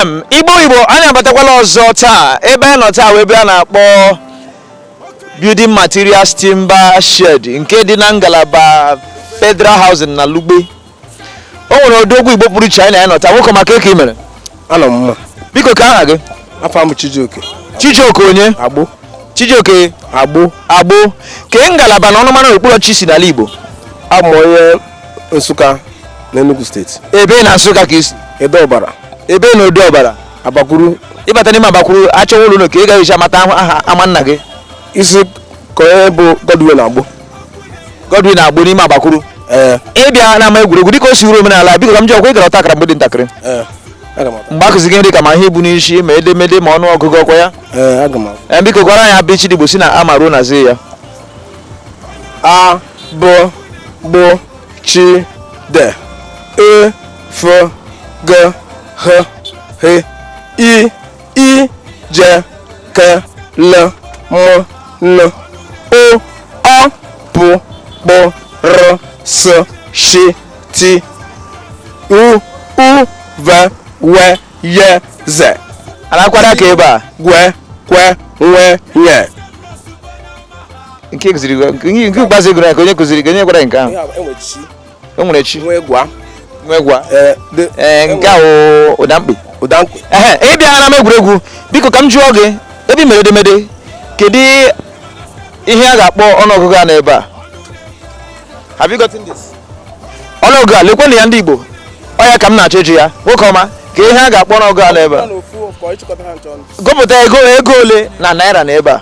FM Igbo Igbo anyị abatakwala ọzọ taa ebe anyị nọ taa wụ ebe a na-akpọ building materials timber shed nke dị na ngalaba federal housing na Lugbe o nwere odogwu igbo pụrụ iche anyị na ya nọ taa nwoke ọma kee ka i mere anọ m mma biko kee aha gị afa m Chijioke chijioke onye agbo chijioke agbo agbo kee ngalaba na ọnụmara okpuru ọchịchị i si n'ala igbo abụ m onye Nsụka na Enugu steeti ebee na Nsụka ka i si Ede Ọbara ebee na Ede Ọbara Abakwuru ị bata n'ime Abakwuru achọwa ụlọ ka ị gaghị echa mata aha ama nna gị isi ka onye bụ Godwin Agbo Godwin Agbo n'ime Abakwuru ee ị bịa n'ama egwuregwu dịka o si wụrụ omenala biko ka m jụọ ọkwa ị gara ọta akara mgbe ị dị ntakịrị ee aga m mgbe akụzi gị nri ka ma ihe ibu n'isi ma edemede ma ọnụ ọgụgụ ọkwa ya ee aga m ee biko gụara anyị abịchịdị Igbo si na a ma ruo na zi ya a bụ gbụ chi de e fo ge ghe he i ị je ke le mo no o ọ pụ kpụ rụ sụ shi ti u ụ ve we ye ze alakwara ka ebe a gwe kwe nwe nye nke kụziri gị- nke nke ikpeazụ ị gụrụ ya kee onye kụziri gị onye gwara gị nke ahụ o nwere chi nwe gwa nwe gwa ee nke a wụ ụda mkpi ụda mkpi ehe ị bịa n'ama egwuregwu biko ka m jụọ gị ebe i mere edemede kedu ihe a ga-akpọ ọnụọgụgụ a n'ebe a Have you gotten this? ọnụọgụgụ a lekwenụ ya ndị igbo ọ ya ka m na-achọ ịjụ ya nwoke ọma kee ihe a ga-akpọ ọnụọgụgụ a n'ebe a gụpụta ego ego ole na naira na ebe a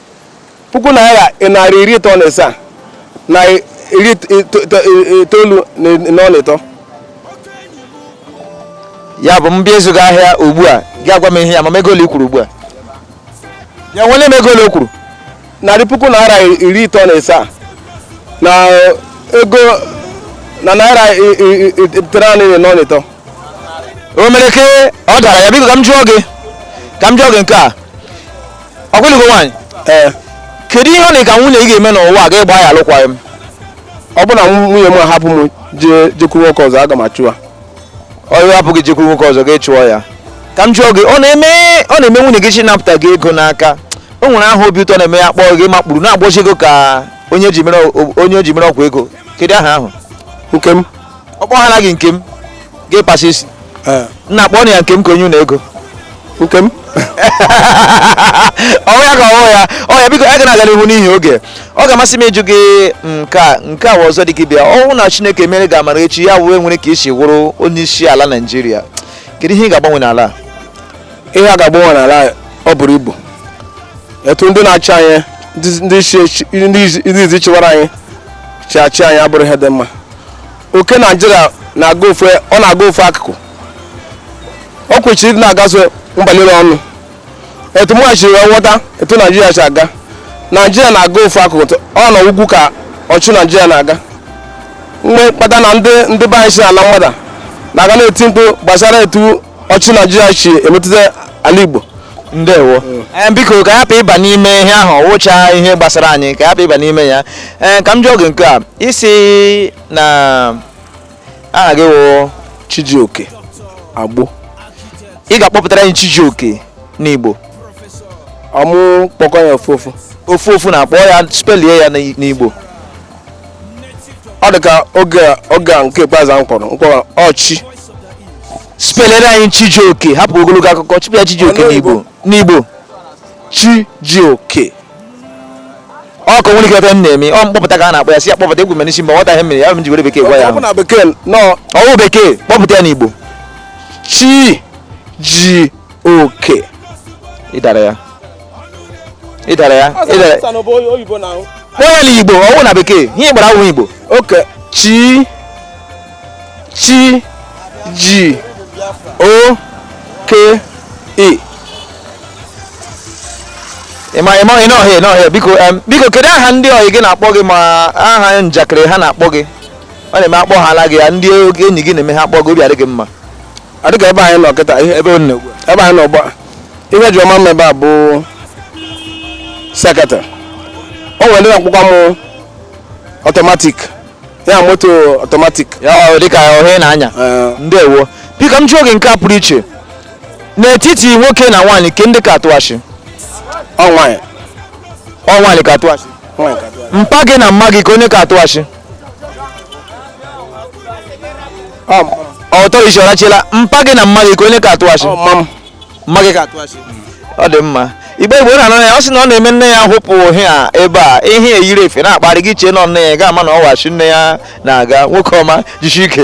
puku naira narị iri ịtọ na ịsaa na iri itoolu na ọla ịtọ ya bụ m bịa ịzụ gị ahịa ugbu a gị agwa m ihe ya ma ego ole i kwuru ugbu a ya nwere m ego ole i kwuru narị puku naira iri ịtọ na ịsaa na ego na iri itenaanị na ọla ịtọ o mere ke ọ dara ya biko ka m jụọ gị ka m jụọ gị nke a ọkwa ị lụgo nwaanyị ee kedu ihe ọ na ka nwunye gị ga-eme n'ụwa a gị agbaa ya alụkwaghị m ọ bụrụ na nwunye m ahapụ m jee jekwuru nwoke ọzọ aga m achụ ya ọ hapụ gị jekwuru nwoke ọzọ gị achụọ ya ka m jụọ gị ọ na-eme ọ na-eme nwunye gị chọọ ịnapụta gị ego n'aka o nwere aha obi ụtọ na-eme ya kpọọ gị makpuru na-agbọzi ego ka onye ji mere o- onye e ji mere ọgwụ ego kedu aha ahụ nke m ọkpọ ha naghị nke m ga-ekpasa isi Eh, nna kpọọ ya nke m ka onye unu ego nke m ọ wụ ya ka ọ wụ ya ọ ya biko a ga na-aga n'ihu n'ihi oge ọ ga-amasị m ịjụ gị nke a nke a wụ ọzọ dị gị bịa ọ wụ na chineke mere gị amara echi ya wee nwere ka i si wụrụ onye isi ala naijiria kedu ihe ị ga-agbanwe n'ala a? ihe a ga-agbanwe n'ala anyị, ọ buru ibu etu ndị na-achị anyị ndị- ndị isi echi- ndị izi- ndị izi chịwara anyị shi achị anyị abụrụ ihe dị mma oke naijiria na-aga ofu ọ na-aga ofu akụkụ o kweshiri ịdị na-agazu mba niile ọnụ etu mụ shi wee ghọta etu naijiria si aga naijiria na-aga ofu akụkụ tụ- ọ nọ ugwu ka ọchị naijiria na-aga nke kpatara na ndị ndị be anyị si ala mmadụ na-aga na-eti mkpu gbasara etu ọchị naijiria shi emetụta ala igbo ndewo ee eh, biko ka anyị hapụ ịba n'ime ihe ahụ wụcha ihe gbasara anyị ka anyị hapụ ịba n'ime ya ee eh, ka m jụọ gị nke a ị sị na aha gị wụ chijioke agbo ị ga-akpọpụtara anyị chijioke n'igbo ọmụ kpọkọ ya ofu ofu ofu ofu na-akpọ ya spelie ya n'igbo ọ dị ka oge a- oge a nke ikpeazụ ahụ kpọrọ mkpọrọ ọ sị spelere anyị chijioke hapụ ogologo akụkọ chipụ ya chijioke Ọnụ n'igbo n'igbo chi ji oke ọ ka nwere ike ebe m na-eme ọ mkpọpụta ka a na-akpọ ya si ya kpọpụta egwu mere isi mgbe nwata ihe mere ya m ji were bekee gwa ya ọ bụ ahụ na bekee nọ ọ wụ bekee kpọpụta ya n'igbo chi ji oke ị dara ya ị dara ya ị dara Ọsọ bụ onye oyibo na ahụ. kpọọ ya n'igbo ọ wụ na bekee ihe ị gbara awụ igbo oke chi chi ji o ke e ịma ịma ị nọ hịa nọ hịa biko em, biko kedu aha ndị ọyị gị na-akpọ gị ma aha njakịrị ha na-akpọ gị ọ na-eme a kpọhaala gị ya ndị enyi gị na-eme ha kpọọ gị obi adị gị mma a dịka ebe anyị nọ kịta ihe ebe ọ na-egbu ebe anyị nọ gba ihe ji ọma mma ebe a bụ seketị o nwere ndị na-akpọkwa m automatic ya moto automatic ya ọ dịka ohe na-anya Eh. ndewo biko m jụọ gị nke a pụrụ iche n'etiti nwoke na nwaanyị kee ndị ka atụ asị ọ nwaanyị ọ nwaanyị ka atụ asị nwaanyị ka dị. mpa gị na mma gị kee onye ka atụ asị ọtọrọ isi ọrachila mpa gị na mma gị kee onye ka atụ asị mma gị ka atụ asị ọ dị mma igbo igbo na anọ ya ọ sị na ọ na-eme nne ya hụpụ ha ebe a ihe eyiri efe na-akparị gị chee na nne ya ga-ama na ọ wụ asị nne ya na-aga nwoke ọma jishie ike